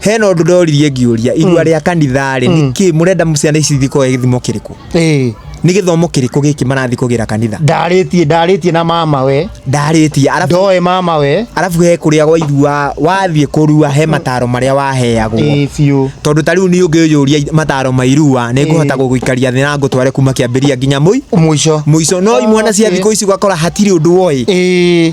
hena ũndũ ndoririe ngĩũria irua rĩa kanitha rĩ nĩ kĩ mũrenda ciana ici ithiĩ koe gĩthimo kĩrĩkũ ĩĩ nĩ gĩthomo kĩrĩkũ gĩkĩ marathiĩ kũgĩra kanitha ndarĩtie ndarĩtie na mama we ndarĩtie arabu ndoe mama we arabu he kũrĩa gwa irua wathiĩ kũrua he mataro marĩa waheagwo ĩĩ biũ tondũ ta rĩu niĩ ũngĩyũria mataro ma irua nĩ ngũhota Ĩĩ. gũgũikaria thĩ na ngũtware kuma kĩambĩria nginya mũi mũico mũico no imwana cia Okay. thikũ ici ũgakora hatirĩ ũndũ woĩ ĩĩ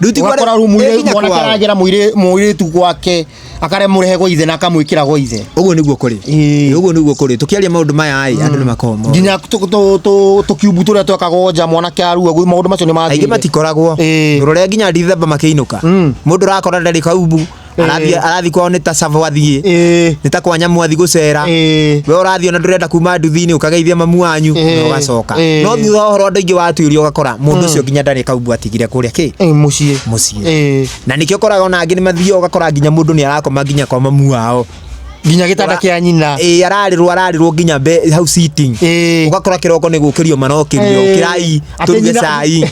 Rĩu ti ũgakora rĩu kware- ĩ nginya mwanake kwao. aragera mũirĩ- mũirĩtu gwake akaremũrehe gwa ithe na akamwĩkĩra gwa ithe ũguo nĩguo kũrĩ Ĩĩ. Ĩĩ, ũguo nĩguo kũrĩ tũkĩaria maũndũ maya ĩ andũ nĩ makoragwo moĩ. nginya tũ- tũ- tũ- tũkiumbu tũrĩa twekagwo nja mwanake arua gwĩ maũndũ macio nĩ aingĩ mathirire. matikoragwo Ĩĩ. ndũrore nginya ndithemba makĩinũka Mm. mũndũ ũrakora ndarĩ kaubu arathi Eh. arathi kwao nä ta cava athiä Eh, nä ta kwa nyamå athi gå cera eh. we ũrathiĩ ona ndũrenda kuma nduthi-inĩ ũkageithia mamu wanyu Eh, na ũgacoka eh. no thutha wa ũhoro andũ aingĩ watuĩrio ũgakora mũndũ ũcio nginya ndarĩ kaumbu atigire kũrĩa kĩ Eh, muciĩ muciĩ Eh. na nĩkĩo ũkoraga ona angĩ nĩ mathiaga ũgakora nginya mũndũ nĩ arakoma nginya kwa mamu wao nginya gĩtanda Ora- kĩa nyina ĩĩ ararĩrwo ararĩrwo nginya mbe- hau sitting Ĩĩ. ũgakora kĩroko nĩ gũkĩrio marakĩrio Ĩĩ. kĩrai Atĩ tũruge nyina- cai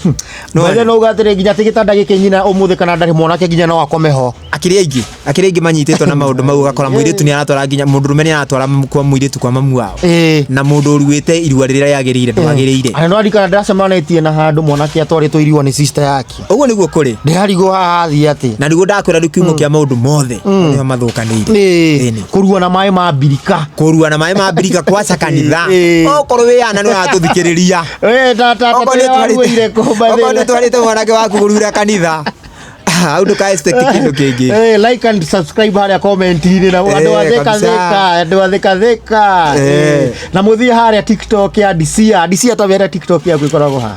No, Mwene no uga atĩrĩ nginya atĩ gĩtanda gĩkĩ nyina ũmũthĩ kana ndarĩ mwanake nginya no akome ho akĩrĩ aingĩ akĩrĩ aingĩ manyitĩtwo na maũndũ mau ũgakora mũirĩtu nĩ aratwara nginya mũndũrũme nĩ aratwara kwa mũirĩtu kwa mamu wao Ĩĩ. na mũndũ ũruĩte irua rĩrĩa rĩagĩrĩire ndwagĩrĩire Ana no arikana ndacemanĩtie na handũ mwanake atwarĩtwo irua nĩ sister yake ũguo nĩguo kũrĩ ndĩrarigwo haha athiĩ atĩ na nĩguo ndakwĩra rĩu kiumo kĩa maũndũ mothe nĩo mathũkanĩire Ĩĩ, Ĩnĩ. kũrua na maĩ ma mbirika kũrua na maĩ ma mbirika kwaca kanitha Ĩĩ. okorwo wĩ yana nĩ watũthikĩrĩria Wee, ta- ta- ta- Okorwo nĩ waruĩire kũmba twarĩte- okorwo nĩ thĩna. twarĩte mwanake waku kũrura kanitha hau ndũka expect kĩndũ kĩngĩ Eh, like and subscribe harĩa comment-inĩ na andũ Eh, atheka kabisa. theka andũ atheka theka Eh. Eh, na mũthiĩ harĩa tiktok ya disia disia ta wĩra tiktok yaku ĩkoragwo ha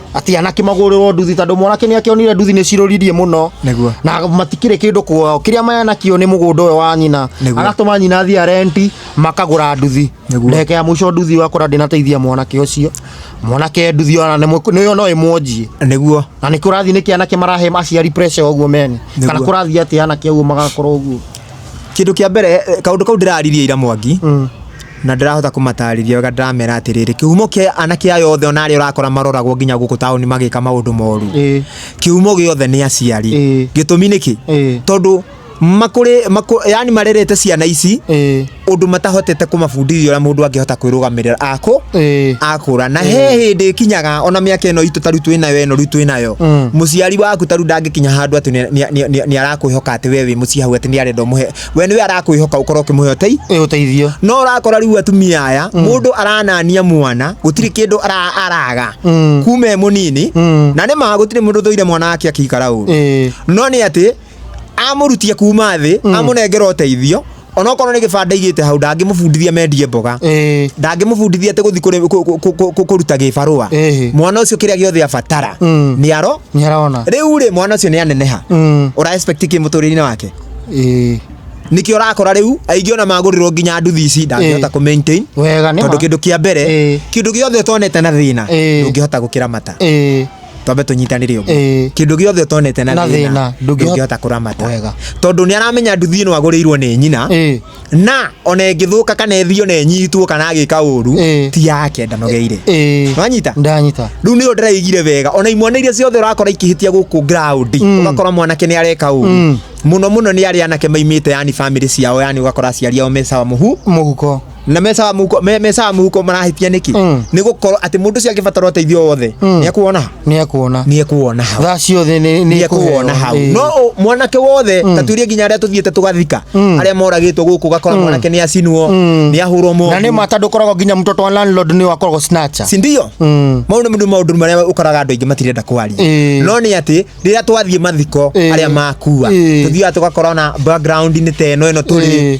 ati anake magurĩrwo nduthi tondũ mwanake nĩ akĩonire nduthi nĩ cirũririe mũno Nĩguo. na matikĩrĩ kĩndũ kuo kĩrĩa mayanakio nĩ mũgũnda ũyũ wa nyina Nĩguo. agatũma nyina athiĩ arenti makagũra nduthi Nĩguo. ndagĩka ya mũico nduthi wakora ndĩnateithia mwanake ũcio mwanake nduthi ona nĩ mwe- nĩyo no ĩmwonjie nĩguo na nĩ kũrathiĩ nĩkĩ anake marahe aciari pressure ũguo mene Nĩguo. kana kũrathiĩ atĩ anake ũguo magakorwo ũguo kĩndũ kĩa mbere eh, kaũndũ kau ndĩraririe ira mwangi na ndĩrahota kũmatarĩria wega ndĩramera atĩrĩrĩ kĩhumo kĩa anake aya othe ona arĩa ũrakora maroragwo nginya gũkũ taũni magĩka maũndũ moru Ĩĩ. kĩhumo gĩothe nĩ aciari Ĩĩ. gĩtũmi nĩkĩ Ĩĩ. tondũ makũrĩ makũ- yani marerete ciana ici Ĩĩ. ũndũ matahotete kũmabundithia ũrĩa mũndũ angĩhota kwĩrũgamĩrĩra akũ Ĩĩ. akũra na he hĩndĩ kinyaga ona mĩaka ĩno itũ taru twĩ nayo ĩno rĩu twĩ nayo Mm. mũciari waku taru ndangĩkinya handũ atĩ nĩ- nĩ- nĩ- nĩ- nĩ arakwĩhoka atĩ we wĩ mũciĩ hau atĩ nĩ arenda ũmũhe we nĩwe arakwĩhoka ũkorwo ũkĩmũhe ũtei ĩ ũteithio no ũrakora rĩu atumia aya mũndũ aranania mwana gũtirĩ kĩndũ ara- araga Mm. kuma e mũnini Mm. na nĩ ma gũtirĩ mũndũ thũire mwana wake akĩikara ũru ĩ no nĩ atĩ amũrutia kuma thĩ amũnengera ũteithio onokorwo nĩ gĩbanda igĩte hau ndangĩmũbundithia mendie mboga ĩ ndangĩmũbundithia atĩ gũthi kũrĩ- kũ- kũ- kũ- kũ- kũruta gĩbarũa Ĩhĩ. mwana ũcio kĩrĩa gĩothe abatara Mm. nĩ aro nĩ arona rĩu rĩ mwana ũcio nĩ aneneha Mm. ũra expect kĩ mũtũrĩre-inĩ wake ĩĩ nikio rakora riu aingi ona magurirwo nginya nduthi ici ndangihota ku maintain wega nĩ tondu kindu kia mbere Ĩĩ. kindu giothe utonete na thina Ĩĩ. ndungihota gukiramata ĩĩ twambe tunyitanire uguo Ĩĩ. kindu giothe utonete na Na thina thĩna, ndũngĩhota- ndungihota kuramata Wega. tondu ni aramenya nduthi ino agurirwo ni nyina Ĩĩ. na ona ĩngĩthũka kana ĩthio na ĩnyitwo kana agĩka ũru Eh. ti yake ndanogeire Eh, wanyita ndanyita rĩu nĩyo ndĩraigire wega ona imwana iria ciothe ũrakora ikĩhĩtia gũkũ ground Mm. ũgakora mwanake nĩ areka ũru Mm. mũno mũno nĩ arĩa anake maimĩte yani bamĩrĩ ciao yani ũgakora aciari ao mecawa mũhu muhuko na mecawa mũhuko me- mecawa mũhuko marahĩtia nĩkĩ Mm. nĩ gũkorwo atĩ mũndũ ũcio angĩbatara ũteithio wothe Mm. nĩ akuona nä ekuona nä ekuona hau thaa ciothe nä nä ekuona hau ĩĩ. no ũ- mwanake wothe ta tuirie nginya arĩa tũthiĩte tũgathika Mm. arĩa moragĩtwo gũkũ gakora mwanake nĩ acinwo Mm. nĩ ahũrwo na nä moru mata ndå koragwo nginya mtoto wa landlord nä wakoragwo snatcher sindio Mm. mau nĩ maũndũ marĩa ũkoraga andũ aingĩ matirenda kwaria Ĩĩ. no nĩ atĩ rĩrĩa twathiĩ mathiko Ĩĩ. arĩa makua Ĩĩ. tũthiaga tũgakora ona background-inĩ ta ĩno ĩno tũrĩ Ĩĩ.